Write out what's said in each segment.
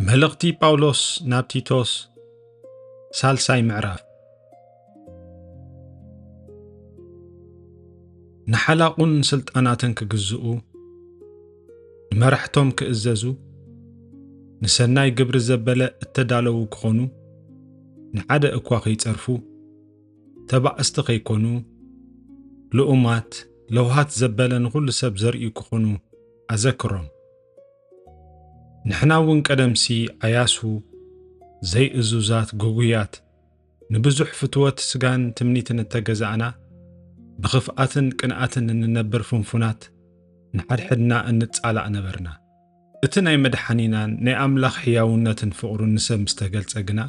መልእኽቲ ጳውሎስ ናብ ቲቶስ ሳልሳይ ምዕራፍ ንሓላቑን ስልጣናትን ክግዝኡ ንመራሕቶም ክእዘዙ ንሰናይ ግብሪ ዘበለ እተዳለዉ ክኾኑ ንሓደ እኳ ኸይጸርፉ ተባዕስቲ ከይኮኑ ልኡማት ለውሃት ዘበለ ንኹሉ ሰብ ዘርእዩ ክኾኑ ኣዘክሮም ንሕና እውን ቀደምሲ ኣያሱ ዘይእዙዛት ግጉያት ንብዙሕ ፍትወት ስጋን ትምኒትን እተገዛእና ብኽፍኣትን ቅንኣትን እንነብር ፍንፉናት ንሓድሕድና እንጻላእ ነበርና እቲ ናይ መድሓኒናን ናይ ኣምላኽ ሕያውነትን ፍቕሩን ንሰብ ምስ ተገልጸ ግና፣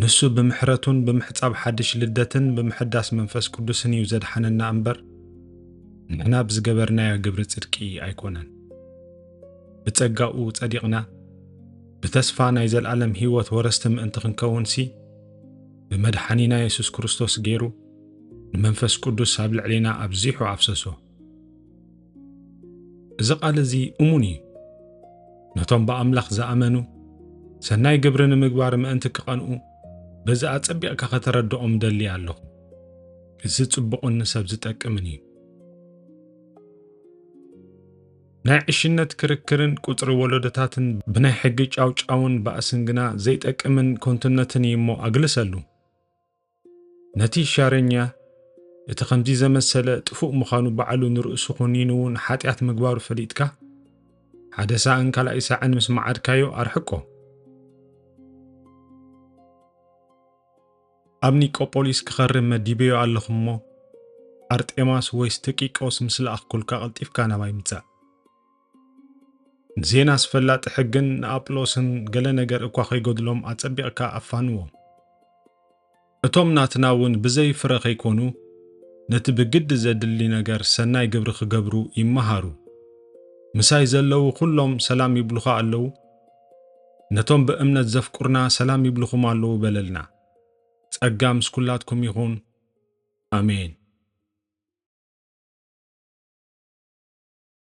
ንሱ ብምሕረቱን ብምሕጻብ ሓድሽ ልደትን ብምሕዳስ መንፈስ ቅዱስን እዩ ዘድሓነና እምበር ንሕና ብዝገበርናዮ ግብሪ ጽድቂ ኣይኮነን። ብጸጋኡ ጸዲቕና ብተስፋ ናይ ዘልኣለም ሕይወት ወረስቲ ምእንቲ ክንከውንሲ ብመድሓኒና የሱስ ክርስቶስ ገይሩ ንመንፈስ ቅዱስ ኣብ ልዕሌና ኣብዚሑ ኣፍሰሶ። እዚ ቃል እዚ እሙን እዩ። ነቶም ብኣምላኽ ዝኣመኑ ሰናይ ግብሪ ንምግባር ምእንቲ ክቐንኡ በዚ ኣጸቢቕካ ከተረድኦም ደሊ ኣለኹ። እዚ ጽቡቕን ንሰብ ዝጠቅምን እዩ። ናይ ዕሽነት ክርክርን ቁጽሪ ወለዶታትን ብናይ ሕጊ ጫውጫውን ባእስን ግና ዘይጠቅምን ኮንቱነትን እዩ እሞ ኣግልሰሉ። ነቲ ሻረኛ እቲ ከምዚ ዘመሰለ ጥፉእ ምዃኑ ባዕሉ ንርእሱ ኹኒኑ እውን ሓጢኣት ምግባሩ ፈሊጥካ ሓደ ሳዕን ካልኣይ ሳዕን ምስ መዓድካዮ ኣርሕቆ ኣብ ኒቆጶሊስ ክኸርም መዲበዮ ኣለኹ እሞ ኣርጤማስ ወይስ ተቂቆስ ምስ ለኣኽኩልካ ቐልጢፍካ ናባይ ምጻእ ዜና ኣስፈላጢ ሕግን ንኣጵሎስን ገለ ነገር እኳ ኸይጐድሎም ኣጸቢቕካ ኣፋንዎም። እቶም ናትና እውን ብዘይ ፍረ ኸይኰኑ ነቲ ብግዲ ዜድሊ ነገር ሰናይ ግብሪ ኺገብሩ ይመሃሩ። ምሳይ ዘለዉ ዅሎም ሰላም ይብሉኻ ኣለዉ? ነቶም ብእምነት ዘፍቅሩና ሰላም ይብሉኹም ኣለዉ በለልና። ጸጋ ምስ ኵላትኩም ይኹን። ኣሜን።